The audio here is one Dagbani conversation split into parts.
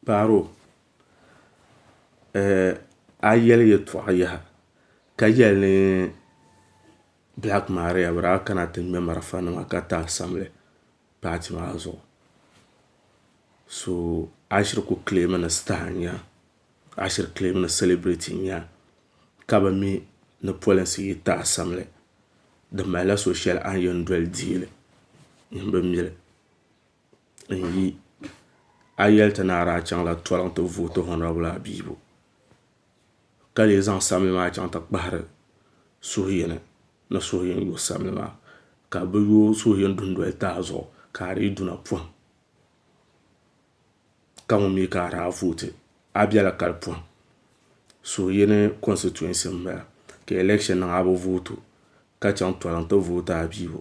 Paaro, eh, a yɛli yɛtɔɣa yaha ka yɛli ni Black Maria bi daa kana ti ŋmɛ marafa nima ka ti assemble paati maa zuɣu so a shiri ku claim ni star n nya a shiri claim ni celebrity n nya ka bi mi ni polinsi yi ti assemble di mali la so shɛli a ni yɛn doli deei li nini bi mi li. n yi a yi yɛli ti ni a daa chaŋ la tɔliŋ ti vooti hɔnirabili Abibu ka lee zaŋ sabili maa chaŋ ti kpahiri suhuyini ni suhuyini yo sabili maa ka bi yo suhuyini dundoli tahi zuɣu ka a dii duna pɔhim ka ŋun mi ka a daa vooti a bela kali pɔhim suhuyini konsitɛtinsi m bala ka alɛkshin niŋ a bi vooti o ka chaŋ tɔliŋ ti vooti Abibu.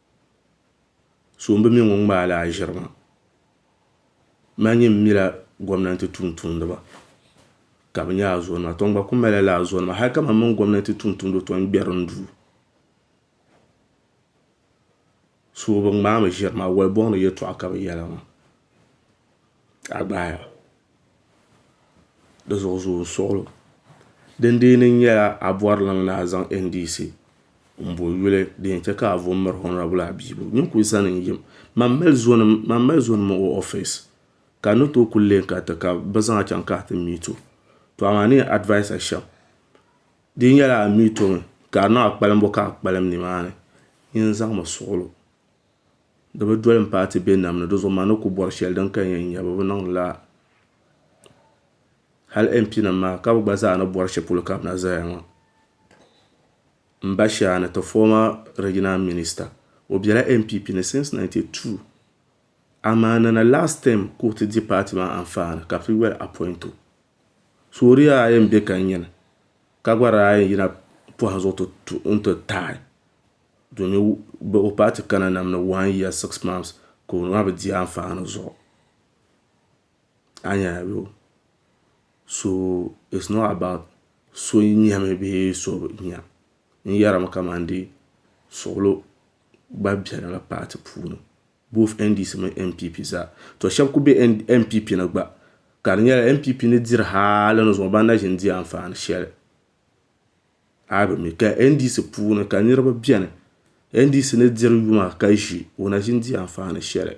so m bi mi ŋun ŋmaala aʒirima ma nyi m mila gomnanti tumtumdiba ka bɛ nya azɔlima to n gba kuli mali la azɔlima hali ka man mini gomnanti tumtumdiba to n gberi n duu so bi ŋmaami ʒiri maa woli boŋ ni yɛltɔɣa ka bɛ yɛli maa a gbaai a. di zuɣu zuɣu n suɣilo din dee ni nyɛla a bɔri liŋ ni a zaŋ NDC n bo yuli din yɛn chɛ ka a vo m miri honabil Abibu nyin kuli zani n yim man mali zonim o ɔfis ka ni tooi kuli lee ka ti ka bɛ zaŋ a chaŋ ka ti miit o to amaa ni yɛn advais a shɛm di nyɛla a miit o mi ka di niŋ a kpalimbu ka a kpalim ni maa ni nyin zaŋmi suɣilo di bi doli n paai ti be nam ni, dizuɣu ma ni ku bɔri shɛli din kaya n-nya bɛ bi niŋdi lala. Hal MP nim maa ka bɛ gba zaa ni bɔri shɛli polo ka bɛ na zaya ŋɔ. M ba Shani, ti former regional minister, o bela NPP ni since 92, amaa nana last term ka o ti di party maa anfaani ka bɛ ti yoli appoint o. So di yaa ayi m-be ka n nyini, ka gba di daa yɛn yina pɔhim zuɣu n-ti taai Domi o paai ti kana nam ni one year six months ka o maa bi di anfaani zuɣu a nya ayo so it's not about so nyɛmi bee so bi nya n yarimi kamandee suɣilo gba beni la paati puuni both NDC mini NPP zaa to shɛba kuli be NPP ni gba ka di nyɛla NPP ni diri hali ni zuɣu ban na ʒini di anfaani shɛli. A yi bi mi ka NDC puuni ka niriba beni NDC ni diri yuma ka ʒi o na ʒi n-di anfaani shɛli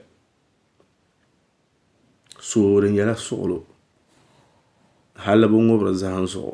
so di nyɛla suɣulo hali bi ŋubiri zahim zuɣu.